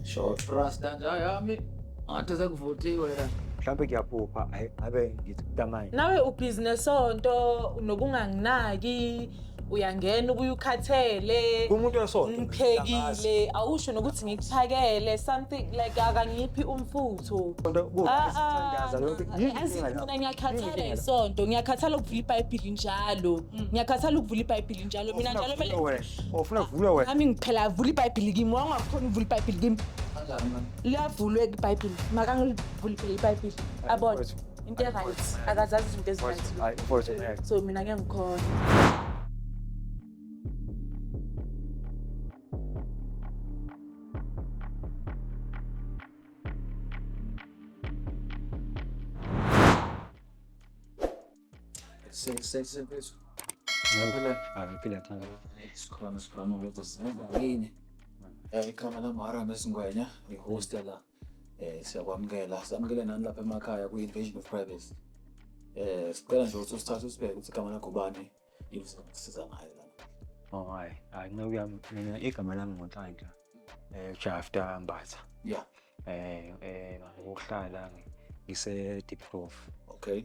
Short rasta nja yami. Ngathi sekuvuthiwe la. Mhlambe kuyaphupha ayi ngabe ngithi kutamanye. Nawe ubhizi nesonto unokunganginaki uyangena ubuye ukhathele Umuntu wesonto. ngiphekile awusho nokuthi ngikuphakele something like akangiphi umfutho Ah, ah, yazi mina ngiyakhathala isonto ngiyakhathala ukuvula ibhayibhili njalo ngiyakhathala ukuvula ibhayibhili njalo mina njalo kumele Ufuna kuvulwa wena. Nami ngiphela avula iBhayibheli kimi, wangakhona uvula iBhayibheli kimi. Liyavulwa iBhayibheli. Makangivule phela iBhayibheli. Abone. mfowethu. Into e-right. Akazazi izinto ezi-right. Mfowethu, hayi, mfowethu, ngeke. So mina ngeke ngikhona. Ikhama lami Haram Esingwenya, ngihost la. Eh siyakwamukela, samukele nani lapha emakhaya ku Invasion of Privacy. Eh sicela nje ukuthi usithathe usibheke ukuthi igama lakho bani, yini sisiza ngayo la. Oh hayi, hayi nceku yami mina igama lami nguNhlanhla. Eh Jafta Mbatha. Yeah. eh eh ngokuhlala ngise deep prof okay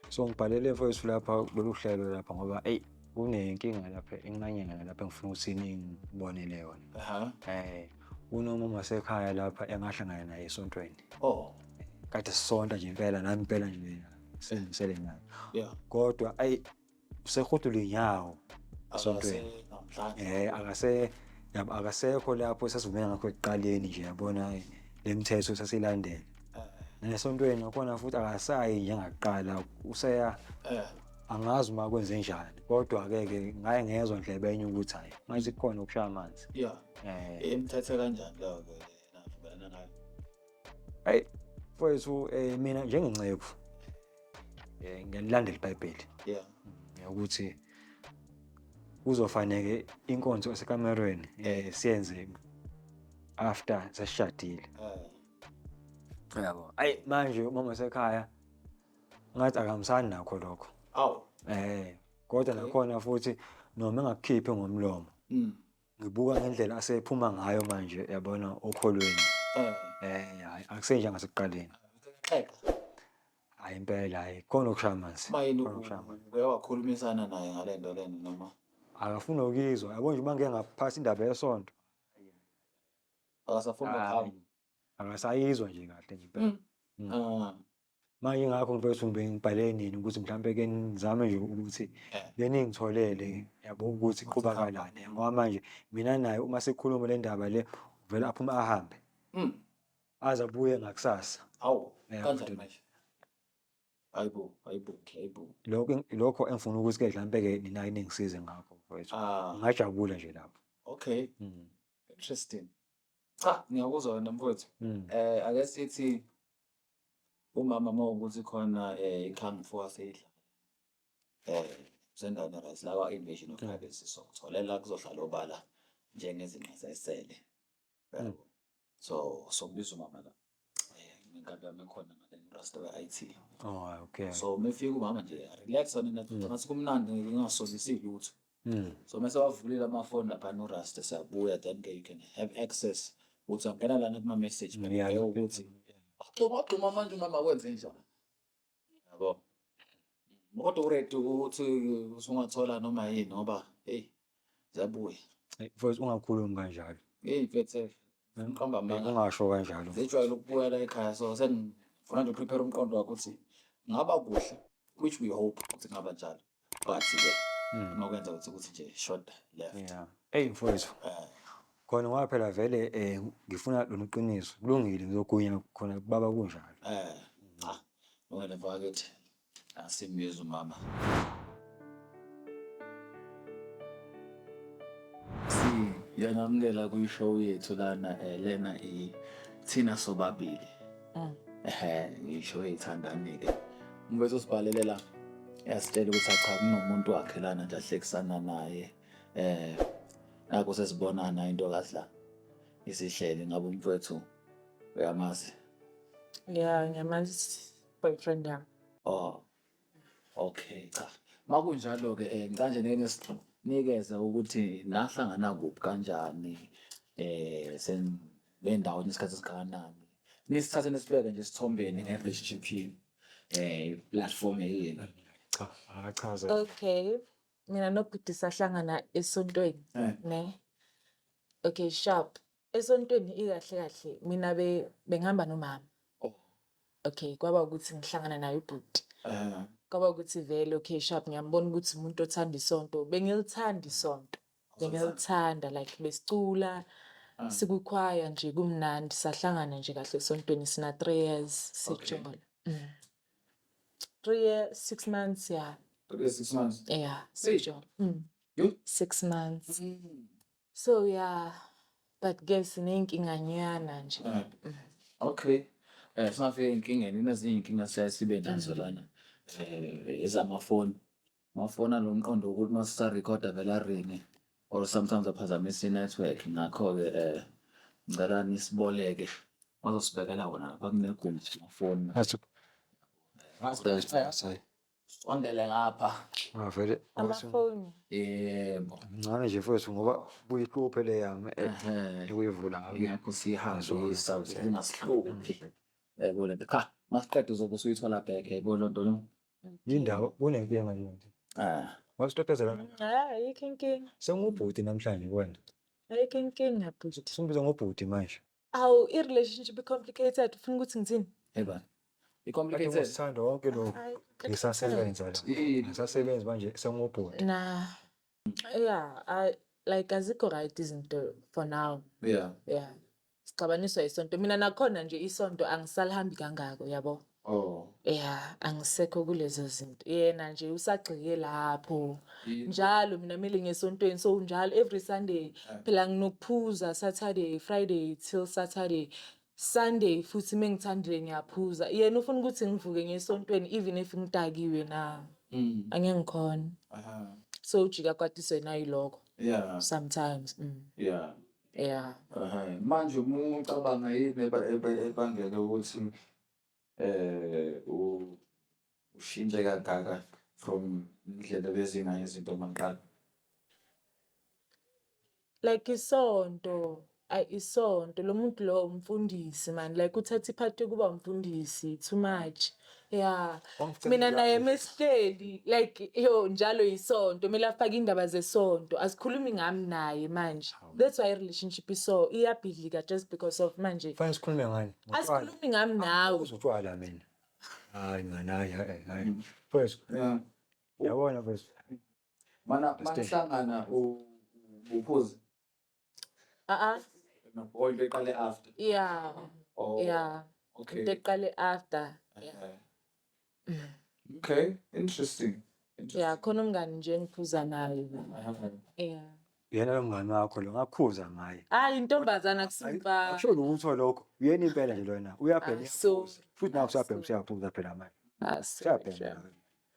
so ngibhalele mfowethu lapha lolu hlelo lapha ngoba eyi kunenkinga lapha encanyana lapha engifuna ukuthi ningibonele yona aha eh unoma masekhaya lapha engahlangana naye esontweni oh kade sisonta nje impela nami impela nje sengisele naye yeah kodwa ayi usehudula inyawo esontweni eh akase yabo akasekho lapho esasivumela ngakho ekuqaleni nje yabona eh, le mithetho sasilandela eh. nesontweni nakhona futhi akasayi njengaqala useya eh. angazi uma kwenze njani kodwa ke ke ngaye ngezwe ndlebe enye ukuthi hayi manje kukhona ukushaya amanzi yeah eh imithethe kanjani lo ke ayi mfowethu um mina njengenceku um ngiyalilandela ibhayibheli yeah ukuthi kuzofaneke inkonzo esekamerweni um siyenze after sesishadile eh. yabo ayi manje umama sekhaya ngathi akahambisani nakho lokho awu um kodwa nakhona futhi noma engakukhiphi ngomlomo mm. ngibuka ngendlela asephuma ngayo manje yabona okholweni eh, eh hayi akusenje ngasekuqaleni hayi impela hayi khona okushaya amanzi mayini uyawakhulumisana naye ngale nto lena noma akafuni ukuyizwa yabo nje uma ngike ngaphasa indaba yesonto akasafuni ukuhamba akasayizwa nje kahle nje impela mm. Mm. Ah. Manje ingakho ngifike ukuthi ngibhale nini ukuthi mhlampe ke ngizame nje ukuthi eh. ke ningitholele yabo ukuthi qhubakalane ngoba manje mina naye uma sikhuluma le ndaba le uvele aphume ahambe hmm. aze abuye ngakusasa awu kanjani manje ayibo ayibo ayibo lokho lokho engifuna ukuthi ke mhlampe ke nina ningisize ngakho mfowethu ah. ngajabula nje lapho okay hmm. interesting cha ngiyakuzwa wena mfowethu hmm. eh ake sithi Umama mawukuthi khona eh iqhamu fo aseyidlala. Eh sendaweni right lawa invasion of privacy so tholela kuzohlala obala njengezinqa zesele. Yabo. So sokubiza umama la. Eh ngenkabi yami khona ngale rasta we-IT. Oh, okay. So mefika umama nje relax wena nathi kumnandi ngingasolisi lutho. Mm. so mese wavulile amafoni lapha norasta siyabuya then ke you can have access ukuthi angena lana kuma-message ngiyale ukuthi agxuma agxuma manje umama kwenze njani yabo kodwa uredi ukuthi usungathola noma yini ngoba heyi ziyabuya mfowethu ungakhulumi kanjalo heyi mfethe ngiqamba amanga ungasho kanjalo zijwayele ukubuya la ekhaya so sengifuna nje uprepare umqondo wakho ukuthi ngaba kuhle which we hope ukuthi ngaba njalo wathi ke hmm. uma kwenza ukuthi ukuthi nje short left yeah hey mfowethu eh. khona ngoba phela vele eh ngifuna lona iqiniso kulungile ngizogunya khona baba kunjalo eh cha ngone bakithi asimyeza umama yangamukela kwi-show yethu lana um lena ithina sobabili Mm. Ehe, ngisho eyithandani-ke. Umfethu usibhalele la. Yasitshela ukuthi acha kunomuntu wakhe lana nje ahlekisana naye. Eh, nakho sesibonana into kahle. Isihlele ngabe umfethu uyamazi. Yeah, ngiyamazi boyfriend yami. Oh. Okay, cha. Makunjalo ke eh ngicela nje ngeke sinikeze ukuthi nahlangana kuphi kanjani eh sen le ndawo inesikhathi esingakanani nisithathe nisibeke nje esithombeni nge-http eh platform yenu cha akachaze okay mina nobhuti sahlangana esontweni Eh. ne okay sharp esontweni ikahle kahle mina be bengihamba nomama Oh. okay kwaba ukuthi ngihlangana naye ubhuti Eh, kwaba ukuthi vele okay sharp ngiyambona ukuthi umuntu othanda isonto bengilithanda isonto Ngiyawuthanda like besicula ah. sikukhwaya nje kumnandi sahlangana nje kahle esontweni sina three years sijola. Mm. Three years, six months ya. Three years, six months. Yeah, sijola. Mm. You? Six months. Mm. So yeah, but ke siney'nkinganyana nje. Ah. Mm. Okay. Eh singafika enkingeni nazinye iy'nkinga siyaye sibe nazo mm. lana eh ezamafoni. Mafona lo mqondo wokuthi uma sisarekhoda vele aringe or sometimes aphazamisa i-network ngakho-ke um ngicela nisiboleke bazosibekela wona lapha kunegumbi mafoni sondele ngapha Ngavele amafoni yebo mncane nje mfowethu ngoba kuyihluphe le yami eh, Ehhe. ekuyivula ngayo. ngakho siyihambisa zingasihluphi yayibona cha masiqeda uzobe usuyithola back yayibona loo nto no Yindawo kunenkinga yini? Ah. Wasitotezela. Ah, ayikho inkinga. Sengubhuti namhlanje wena. Ayikho inkinga bhuti. Simbiza ngobhuti manje. Awu i-relationship i-complicated ufuna ukuthi ngithini? Eba. I-complicated. Sithanda wonke lo. Ngisasebenza la. Ngisasebenza manje sengubhuti. Na. Yeah, I like azikho right izinto for now. Yeah. Yeah. sixabaniswa yisonto mina nakhona nje isonto angisalihambi kangako yabo oh ya angisekho kulezo zinto yena nje usagxike lapho njalo mina mele ngesontweni so njalo every sunday phela nginokuphuza saturday friday till saturday sunday futhi uma ngithandile ngiyaphuza yena ufuna ukuthi ngivuke ngesontweni even if ngidakiwe na mm. angeke ngikhona so ujika kwatiswe nayilokho yeah sometimes mm. yeah Yeah. Ehhe, manje uma ucabanga yini eba- ebe- ebangele ukuthi eh u- ushintshe kangaka from indlela bezingayo izinto maqala like isonto ayi isonto lo muntu lo umfundisi mani like uthatha iphathi yokuba umfundisi too much ya mina naye mesihleli like yo njalo yisonto kumele afake indaba zesonto asikhulumi ngami naye manje that's why relationship iso iyabhidlika just because of manje fanele sikhulume ngani asikhulumi ngami nawe uzotshwala mina hayi ngani hayi hayi first yabona first mana mana hlangana uphuze a-a or into eqale after ya oh ya into okay eqale after Eh. okay interesting ya khona umngani nje engiphuza naye Eh. ya uyena lo mngani wakho lo ngakhuza ngaye hayi intombazana kusimfana akusho lutho lokho uyena impela nje lona uyabhema Ah, so- uyaphuza. futhi nawe usuyabhema usuyaphuza phela manje Ah, so- usuyabhema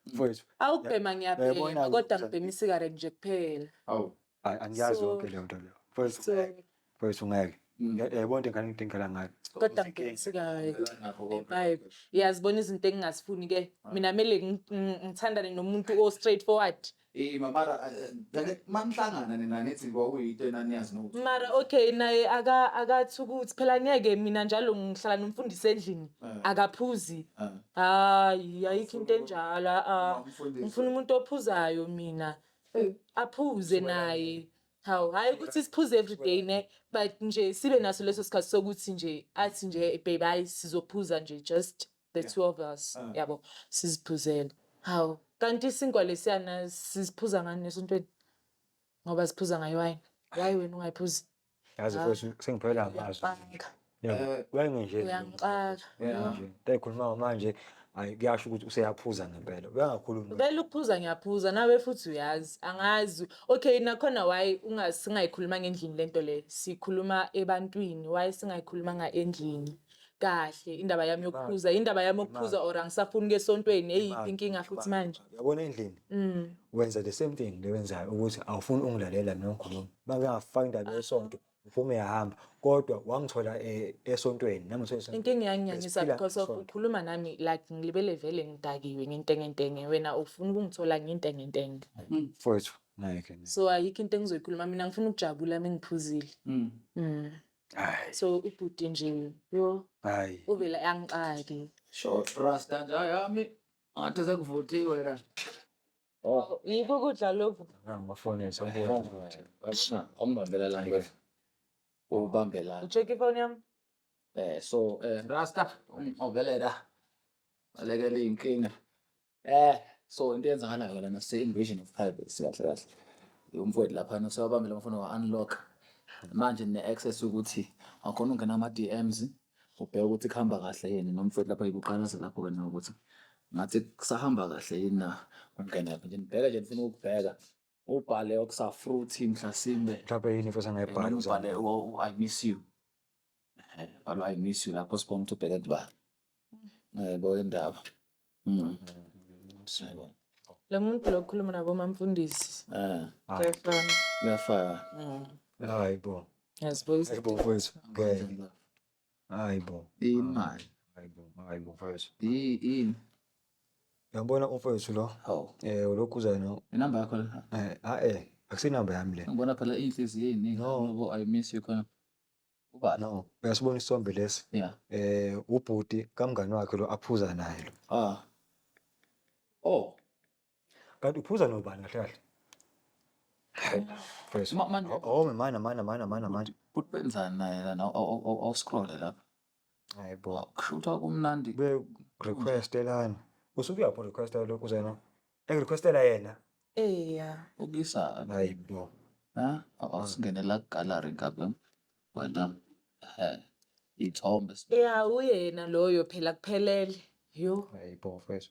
mfowethu awubhema Yayibona ngiyabhema kodwa ukuthi- ngibhema isigareti nje kuphela awu Ay, angiyazi So- yonke leyo nto leyo mfowethu so ungeke. mfowethu ungeke Nge- yayibona into engane ngidingela ngayo kodwa ngibhekisekayo Babe, uyazibona izinto engingazifuni ke mina mele ngi- ngi- ngithandane nomuntu o straight forward Eh mamara manihlangana nina nithi kwakuyinto enaniyazi nokuthi mara okay naye aka- akathi ukuthi phela ngeke mina njalo ngihlala nomfundisi endlini Eh. akaphuzi Ah. hayi ayikho into enjalo a-a. Ungafundisa. ngifuna umuntu ophuzayo mina aphuze naye hawu hhayi ukuthi siphuze everyday ne but nje sibe naso leso sikhathi sokuthi nje athi nje babe hhayi sizophuza nje just the two of us ah. yabo siziphuzele hawu kanti isinkwa lesiyana siziphuza ngani nesontweni ngoba siphuza ngayo wayini why wena ungayiphuzi yazi ah, mfethu sengiphelele amazwi eh, wenge nje ekhuluma manje hayi kuyasho ukuthi useyaphuza ngempela uyangakhulumi vele ukuphuza ngiyaphuza nawe futhi uyazi angazi okay nakhona why singayikhulumanga endlini lento le sikhuluma ebantwini why singayikhulumanga endlini kahle indaba yami yokuphuza indaba yami yokuphuza or angisafuni ukuya esontweni eyiphi inkinga futhi manje yabona endlini mm. wenza the same thing lewenzayo ukuthi awufuni ungilalela mina ngikhuluma bangafaka indaba yesonto uphume yahamba kodwa wangithola eh, esontweni nami ngithola inkinga yanginyanyisa because of ukhuluma nami like ngilibele vele ngidakiwe ngentengentenge wena ufuna ukungithola ngentengentenge mm. mfowethu ngeke so ayikho into engizoyikhuluma mina ngifuna ukujabula mina ngiphuzile mm. mm. Hayi. so ubhuti nje yo Hayi. uvele angixaki Sho rasta nje yami. Ngathi sekuvuthiwe la. Oh, yikho ukudla lokhu Ngibafonisa Ashna, awungibambela la nje. Ubambe la. ucheck ifoni yami Eh so eh rasta ungibambele la. Balekela inkinga. Eh, so into eyenzakalayo lana se-invasion of privacy kahle kahle. Umfowethu laphana usewabambile amafoni wa-unlock. Manje nine-access yokuthi akhona ukungena ama-DMs ubheke ukuthi kuhamba kahle yini nomfowethu lapha ikuqalaza lapho-ke nawe ukuthi ngathi kusahamba kahle yini na? Ungena kuphi nje nibheke nje nifuna ukubheka ubhale okusafruthi mhlasimbe mhlawumbe yini futhi angayibhali noma ubhale u- u- i miss you Eh, bhala u- i miss you lapho sibona ukuthi ubheke ndibala yebo indaba Mm. Siyabona. lo muntu lo okhuluma nabomamfundisi Eh, kuyafana kuyafana hayi bo yazibuza hayi bo mfowethu ngeke Hayi bo. Imali. Hayi bo. Hayi bo mfowethu. Yi- Yini? Uyambona umfowethu lo? Hawu. Eh ulokhu uza no. Inamba yakho le. Eh ah eh akusinamba yami le. Ngibona phela inhliziyo eziningi. No. Ngoba I miss you khona. Ubani? No. Uyasibona isithombe lesi? Yeah. Eh ubhuti kamngani wakhe lo aphuza naye lo. Ah. Oh. Kanti uphuza nobani kahle kahle? Hey, Fresh. Ma- manje- Oh, mana mana mana mana mana. Bhuti benzani naye lana awuscrolle lapha Hayi bo. kushuthwa kumnandi Be requestelani. Usuke uyapho requestela lokhu zena. Engirequestela yena. eya ukisa Hayi bo. ha awusingenela gallery ngabe wena eh ithombe ya uyena loyo phela kuphelele yo Hayi bo fresh.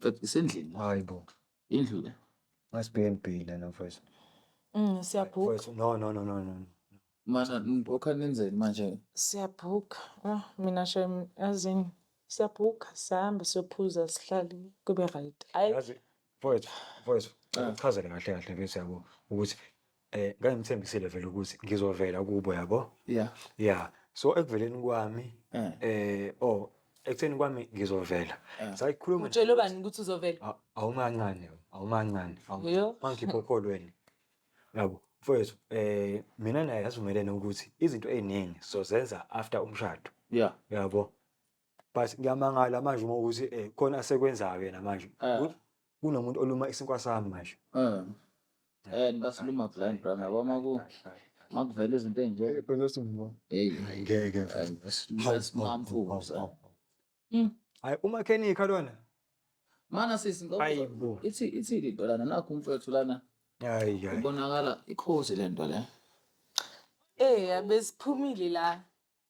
But isendlini. Hayi bo. Indlu le. Must be in B lena mfowethu. Mm, siyabhuka. Mfowethu, No, no, no, no, no. Mana ngokha nenzeni manje? Siyabhuka. Ah, mina shem azini. Siyabhuka sihambe siyophuza sihlale kube right. Hayi Yazi mfowethu, mfowethu, Ah. uchazele kahle kahle mfethu yabo ukuthi eh ngangimthembisile vele ukuthi ngizovela kubo yabo yeah yeah so ekuveleni kwami eh, eh oh ekutheni kwami ngizovela eh. sayikhuluma utshele bani ukuthi uzovela awumancane awumancane mangikhipha okholweni yabo mfowethu eh mina naye asivumelene ukuthi izinto eziningi sozenza after umshado yeah yabo but ngiyamangala manje uma ukuthi um eh, khona asekwenzayo yena manje ah. kunomuntu oluma isinkwa sami manje ah. eh, basiluma blind bra yabo uma ku uma kuvela izinto ey'nje hmm. hayi umakhenikha lona mana sisi ithi ithi lento lana nakho umfethu lana ibonakala ikhozi lento le Eh, abesiphumile la.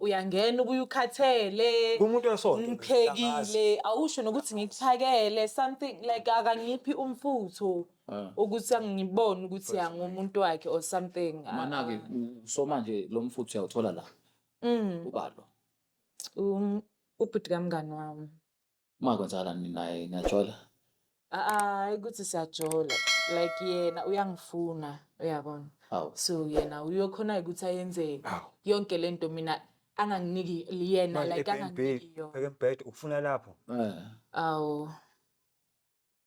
uyangena ubuye ukhathele Kumuntu wesonto. ngiphekile awusho nokuthi ngikuphakele something like akangiphi umfutho Ah. ukuthi angibone ukuthi angumuntu wakhe or something Ah, Mana-ke u- so manje lo mfuthu uyawuthola la. Mm, Ubalo. um, ubhuti kamngani wami Uma kwenzakala ninaye niyajola. Hayi ukuthi siyajola like yena uyangifuna uyabona. Awu. So yena uyokhona ukuthi ayenzeni. Awu. Yonke lento mina anganginiki yena like anganginiki yona. Ekembhede ukufuna lapho. Eh. Awu.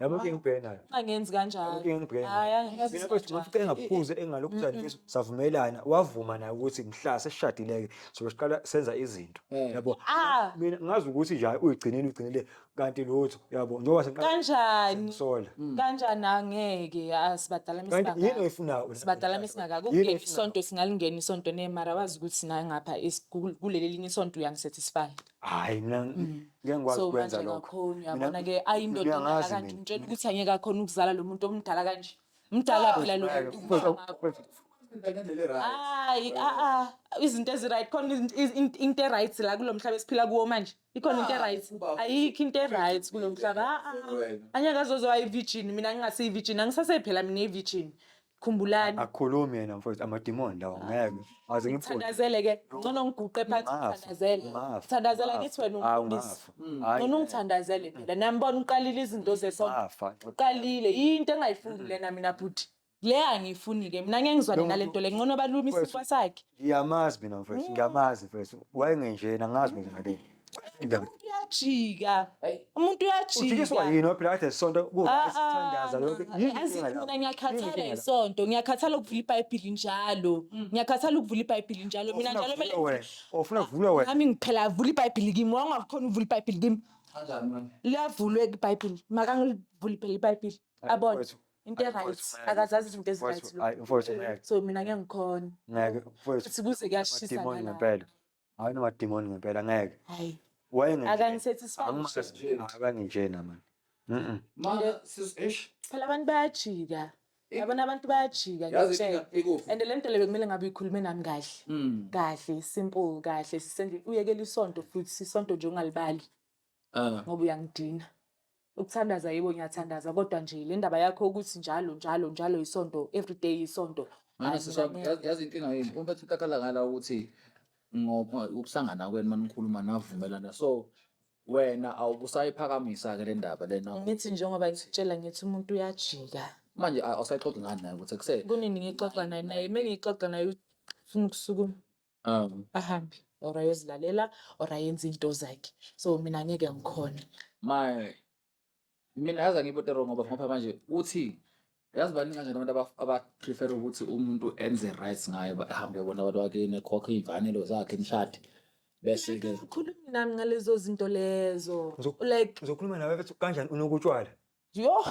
yabo ke ngibhena angenzi kanjalo ke ngibhena hayi angenzi mina bathi ngifike ngaphuze engalokhu zanifisa savumelana wavuma naye ukuthi mhla seshadileke so siqala senza izinto mm. yabo ah. mina ngazi ukuthi nje uyigcinile ugcinile kanti lutho yabo njengoba sengiqala kanjani sola mm. kanjani angeke asibadala misingaka kanti yini oyifunayo sibadala misingaka kungena isonto singalingena isonto nemara wazi ukuthi naye ngapha kuleli linye isonto uyangisatisfy hayi mina mm. ngeke ngikwazi so ukwenza manje lokho kakhulu uyabona ke ayindoda mina endala ngazi kanje mina. umtshela ukuthi angeke akhona ukuzala lo muntu omdala kanje mdala phela lo muntu Because of- because- hayi a-a izinto ezi-right khona izinto- iz- in- into e-right la kulo mhlaba esiphila kuwo manje ikhona into e-right ayikho into e-right kulo mhlaba a-a angeke azozwa i-virgin mina ngingasiyi-virgin angisasephela mina i-virgin khumbulani akhulumi yena mfowethu amadimoni lawo ah. ngeke aze ngiphuze thandazele ke ngcono ngiguqe phansi thandazele thandazela kithi wena umfundisi mm. ngcono ungithandazele phela nami bona uqalile izinto zesonto uqalile into engayifundi lena mina bhuti le angiyifuni ke mina ngeke ngizwane nale nto le ngcono balume isinkwa sakhe ngiyamazi mina mfowethu mm. ngiyamazi mfowethu wayengenjena ngazi mina ngale uyajika umuntu uyajikiswa yini waphila kade sonto kusithandaza ah, ah, lokho yazi ah, mina ngiyakhathala isonto ngiyakhathala ukuvula ibhayibhili njalo mm. ngiyakhathala ukuvula ibhayibhili njalo mina njalo mele ufuna kuvula wena nami ngiphela avula ibhayibhili kimi wangakhona ukuvula ibhayibhili kimi liyavulwe ibhayibhili makangilivuli phela ibhayibhili abone into e-right akazazi izinto ezi-right so mina ngeke ngikhona sibuze kuyashisa ngempela Hayi noma demon ngempela ngeke. Hayi. Wayenge. Akangisatisfy. Akanginjena manje. Mhm. Manje sis eish. Phela abantu bayajika. Yabona abantu bayajika ngiyakutshela. And le nto le bekumele ngabe uyikhulume nami kahle. Hmm. Kahle, simple, kahle. Sisendle uyekela isonto futhi isonto nje ungalibali. Ah. ngoba uyangidina ukuthandaza yebo ngiyathandaza kodwa nje le ndaba yakho ukuthi njalo njalo njalo isonto every day isonto Manje Ayi, sisha mina ngeke. yazi yazi inkinga yini uma bethi kakhala ngala ukuthi ngoba ukuhlangana kwenu manikhuluma navumelana so wena awubusayiphakamisa ke le ndaba lena ngithi njengoba ngikutshela ngithi umuntu uyajika manje a- awusayixoxi ngani naye ukuthi ekuseni kunini ngixoxa naye naye uma ngixoxa naye ufuna ukusukuma um ahambe or ayozilalela or ayenze into zakhe so mina ngeke ngikhona my mina yazi angibote wrong ngoba ngoba manje uthi yazi baningi kanjani abantu aba- abaprefer ukuthi umuntu enze right ngayo ba- ahambe yobona abantu bakini ekhokhe iy'mfanelo zakhe nishade bese-ke ukhulumi nami ngalezo zinto lezo Ngizok- like ngizokhuluma nawe bethi kanjani unokutshwala Yho!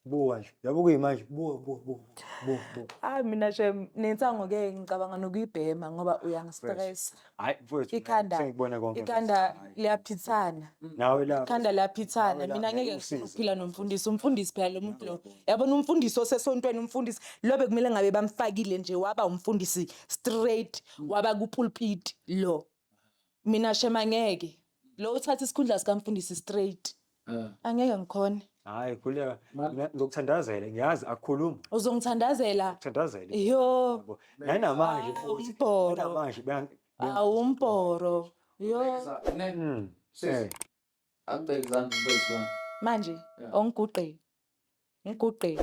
Buka nje, yabo kuyimanje, buka, buka, buka, buka, buka. Hayi mina shem nensango ke ngicabanga nokuyibhema ngoba uyangistress. Hhayi mfowethu, Ikhanda sengikubone konke. ikhanda liyaphithana. Nawe la. Ikhanda liyaphithana. Nawe la, Mina ngeke ngeke ngifune usize. ukuphila nomfundisi. Umfundisi phela lo muntu lo. Yabona umfundisi osesontweni umfundisi lo bekumele ngabe bamfakile nje waba umfundisi straight waba kupulpit lo. mina shema ngeke lo uthatha isikhundla sikamfundisi straight Eh. angeke ngikhona Hayi khuleka ngokuthandazela ngiyazi akukhulumi uzongithandazela ukuthandazela. yo Yabo. Nanamanje futhi umbhoro. nanamanje beyangi- awumbhoro yo Mm. Eh. Angibeke izandla mfethu wami. Manje Yeah. ongiguqe. Ngiguqe.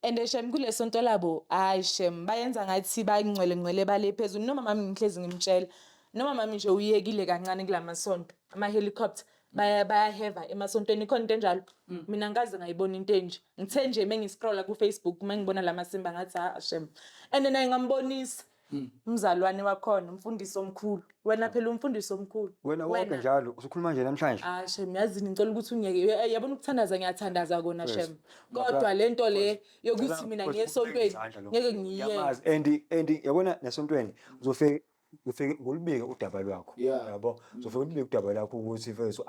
And eh, shem kulesonto labo hayi shem bayenza ngathi bayingcwele ngcwele bale phezulu noma mami ngihlezi ngimtshela. Noma mami nje uyekile kancane kulamasonto ama helicopter baya bayaheva emasontweni ikhona into enjalo. Mina ngikaze ngayibona into enje. Ngithe nje mengiscrolla ku Facebook mengibona lamasimba ngathi ha shem. And naye ngambonisa Hmm. umzalwane wakhona umfundisi omkhulu wena hmm. phela umfundisi omkhulu wena wonke njalo usukhuluma nje namhlanje ah shem yazini ngicela ukuthi ungeke yabona ukuthandaza ngiyathandaza kona shem kodwa lento le yokuthi mina ngiyesontweni ngeke ngiyenze and and yabona nasontweni uzofika ufike ngolibike udaba lwakho yabo uzofike ulibike udaba lakho ukuthi mfethu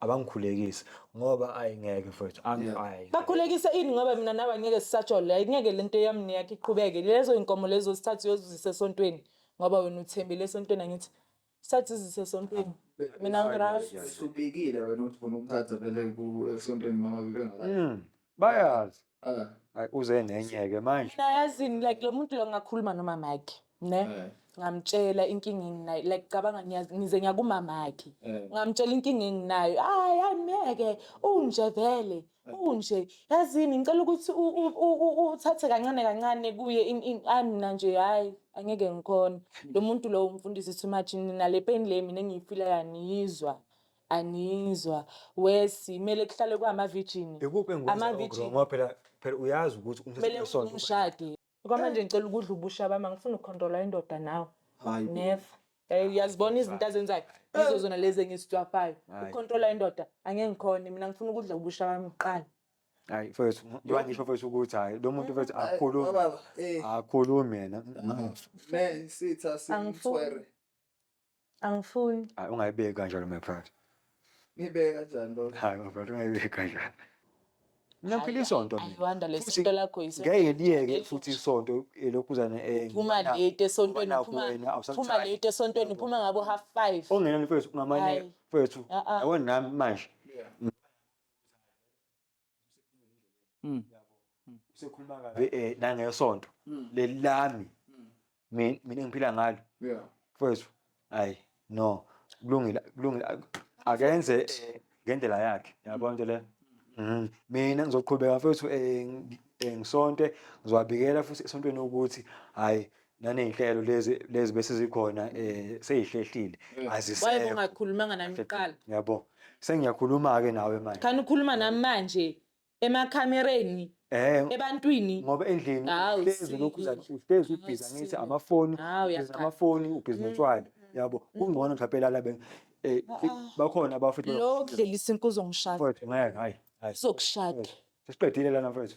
abangikhulekise ngoba ayi ngeke mfowethu angi ayi bakhulekise ini ngoba mina nawe ngeke sisajole ayingeke lento yami neyakhe iqhubeke lezo inkomo lezo sithathu yozizisa esontweni ngoba wena uthembile esontweni angithi sithathu izisa esontweni mina ngirasubikile wena ukuthi ufuna ukuthatha vele esontweni mama bebengaka bayazi Eh, Ay, uze nenye-ke manje mina yazini like lo muntu lo ngakhuluma nomamakhe ne eh, ngamtshela inkinga enginayo like cabanga ngiyazi- ngize ngiyakumamakhe eh. ngamtshela inkinga enginayo hayi angeke unje vele unje yazini ngicela ukuthi u- u- u- u- uthathe kancane kancane kuye in- in- hayi mina nje hhayi angeke ngikhona lo muntu lowo umfundisi too much nina le pain le mina engiyifila yaniyizwa Angizwa. Wesi, kumele kuhlale kwamavijini. Ikuphi engikwenza Ama ugrow virgin. ngoba phela phela uyazi ukuthi umthetho Kumele wesonto umshade. Kwamanje ngicela ukudla ubusha bami angifuni ukukhontrola indoda nawe. Hayi bo. Never. Eh, uyazibona izinto azenzayo yizo zona lezi engizicwafayo Hayi. ukukhontrola indoda angeke ngikhone mina ngifuna ukudla ubusha bami kuqala hayi mfethu ngiba ngisho mfethu ukuthi hayi lo muntu mfethu akhulumi Baba, eh, akhulumi yena man, sitha Angifuni. simthwere. Angifuni. Hayi ungayibeki kanjalo my brother. Ngibeke kanjani lo? Hayi my brother ungayibeki kanjalo. Mina ngiphila isonto mina. Ayiwanda Futhi lesonto lakho ngeke yisonto. liyeke futhi isonto elokhuzane eh. Phuma ngibona- late esontweni ngibona phuma kuwena, awusathandi. phuma late esontweni phuma ngabo half 5. Ongenani mfethu ungamane Hayi. mfethu. Ah, ah. Yabona nami manje. mm. mm. usekhuluma kabi eh nangesonto mm. lelami mina ngiphila ngalo yeah mfowethu hayi no kulungile kulungile akenze eh, ngendlela yakhe yabona into le mhm. mina ngizoqhubeka mfowethu eh, eh, ngisonte ngizobabikela futhi esontweni ukuthi hayi naney'nhlelo lezi lezi bese zikhona um sey'hlehlile waye azisekho bongakhulumanga nami kuqala yabo sengiyakhuluma-ke nawe manje khani ukhuluma nami manje emakhamereni um ebantwini ngoba endlini Hawu, uhlezi sisi. lokhu uza- uhlezi Hawu, ubhizi angithi sisi. amafoni Hawu, ubhizi uyaqala. amafoni ubhizi notshwala yabo kungcono mhlawumpe lala be eh, bakhona abafethu lo kudlelisa inkuzo ngishada mfowethu ngeke hayi hayi uzokushada sesiqedile lana mfowethu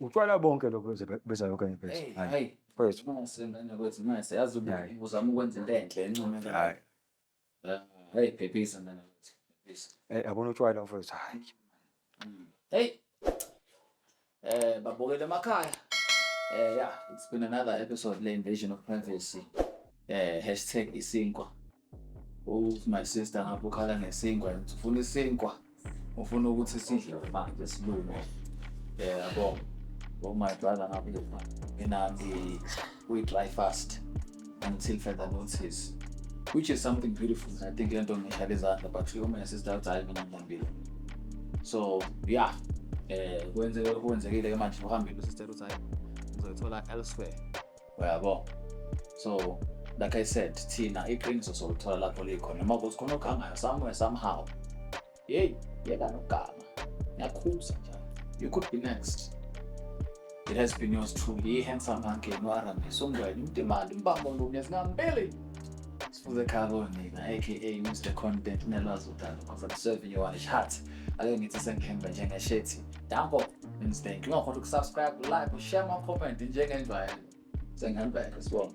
utshwala bonke lokho bezayo kanye phezu hayi mfethu mase ngane kwethu mase yazi uzama ukwenza into enhle encome hayi hayi phephisa ngane kwethu phephisa eh yabona utshwala mfethu hayi mm. hey eh babokele emakhaya eh yeah it's been another episode le invasion of privacy eh hashtag isinkwa Uthi my sister ngapha ukhala ngesinkwa and ufuna isinkwa. Ufuna ukuthi sidle manje silunge. Eh yabo. Oh my brother ngapha ngipha. Mina ngi we dry fast until further notice. Which is something beautiful. I think lento ngihlale izandla but you my sister uthi hayi mina ngihambile. So yeah. Eh kwenzeke kwenzekile ke manje uhambile usister uthi hayi ngizothola elsewhere. uyabo so like i said thina iqiniso solithola lapho likhona noma ukuthi khona ogangayo somewhere somehow yeyi yeka nogama ngiyakhuza njalo you could be next it has been yours truly i-handsome ankeni u-arame songweni umdimandi umbambo lunye zingambili sifuze ekhaya konina aka mr content nelwazi udalo because i'm serving you one heart ake ngithi sengihembe njengeshethi Danko and Stank. Ngakho ukusubscribe, like, share my comment njengenjwayelo. Sengambeka sibonga.